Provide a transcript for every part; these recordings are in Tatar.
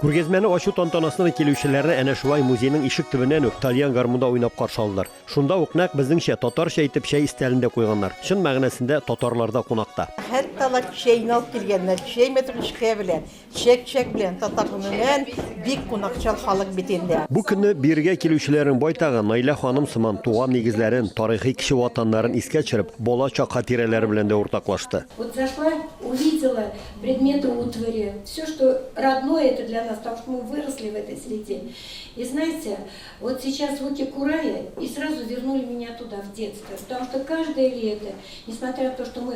Күргәзмәне ачу тантанасына килүчеләрне әнә шулай музейның ишек төбеннән үк тальян гармунда уйнап каршы алдылар. Шунда ук нәкъ безнеңчә татарча итеп чәй истәлен дә куйганнар. Чын мәгънәсендә татарларда кунакта. Хәтта алар чәйне алып килгәннәр, чәй мәтрүшкә белән. Чәк-чәк белән татар гомумән бик кунакчыл халык бит инде. Бу көнне биергә килүчеләрнең байтагы Наилә ханым сыман туган нигезләрен, тарихи кече ватаннарын искә төшереп, бала чак хатирәләре белән дә уртаклашты. Вот зашла, увидела предметы утвари, всё, что родное это для нас, потому что мы выросли в этой среде. И знаете, вот сейчас звуки курая и сразу вернули меня туда, в детство, потому что каждое лето, несмотря на то, что мы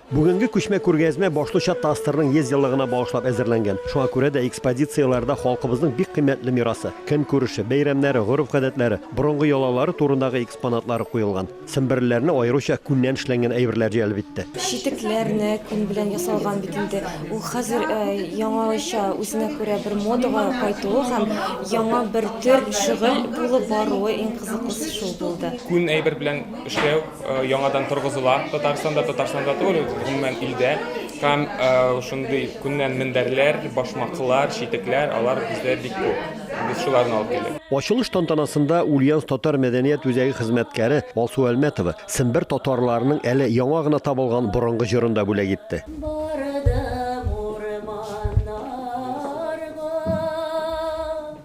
Бүгенге күчмә күргәзмә башлыча ТАССРның 100 еллыгына багышлап әзерләнгән. Шуңа күрә дә экспозицияләрдә халкыбызның бик кыйммәтле мирасы, көнкүреше, бәйрәмнәре, гореф-гадәтләре, борынгы йолалары турындагы экспонатлары куелган. Семберлеләрне аеруча күннән эшләнгән әйберләр җәлеп итте. Читекләр нә күн белән ясалган бит инде. Ул хәзер яңача, үзенә күрә бер модага кайтуы һәм яңа бер төр шөгыль булып баруы иң кызыклысы шул булды. Күн әйбер белән эшләү. Яңадан торгызыла Татарстанда, Татарстанда түгел, гомумән илдә. Һәм шундый күннән мендәрләр, башмаклар, читекләр, алар бездә бик күп. Без шуларны алып килдек. Ачылыш тантанасында Ульяновск татар мәдәният үзәге хезмәткәре Алсу Әлмәтова сембер татарларының әле яңа гына табылган борынгы җырын да бүләк итте.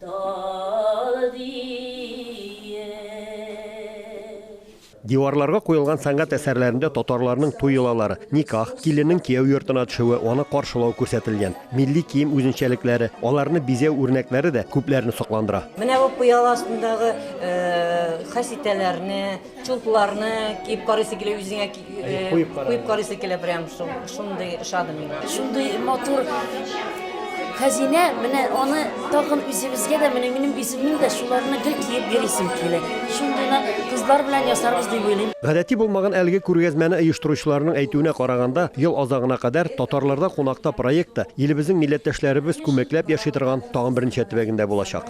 Тал диеп. Диварларга куелган сәнгать әсәрләрендә татарларның туй йолалары, никах, киленнең кияү йортына төшүе, аны каршылау күрсәтелгән. Милли кием үзенчәлекләре, аларны бизәү үрнәкләре дә күпләрне сокландыра. Менә бу пыяла астындагы хәситәләрне, Чулпларны киеп карыйсы килә үзеңә куеп карыйсы килә прям шундый ошады миңа. Шундый матур хәзинә, менә аны тагын үзебезгә дә, менә минем үземнең дә шуларны гел киеп йөрисем килә. Шундыйны кызлар белән ясарбыз дип уйлыйм. Гадәти булмаган әлеге күргәзмәне оештыручыларның әйтүенә караганда, ел азагына кадәр Татарларда кунакта проекты илебезнең милләттәшләребез күмәкләп яши торган тагын бер ничә төбәгендә булачак.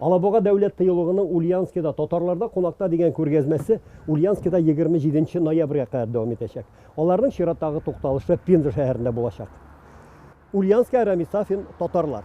Алабуга дәүләт тыюлыгының Ульянскида татарларда кунакта дигән күргәзмәсе Ульянскида 27 ноябрьгә кадәр дәвам итәчәк. Аларның чираттагы тукталышы Пенза шәһәрендә булачак. Ульянская Рами Сафин, татарлар.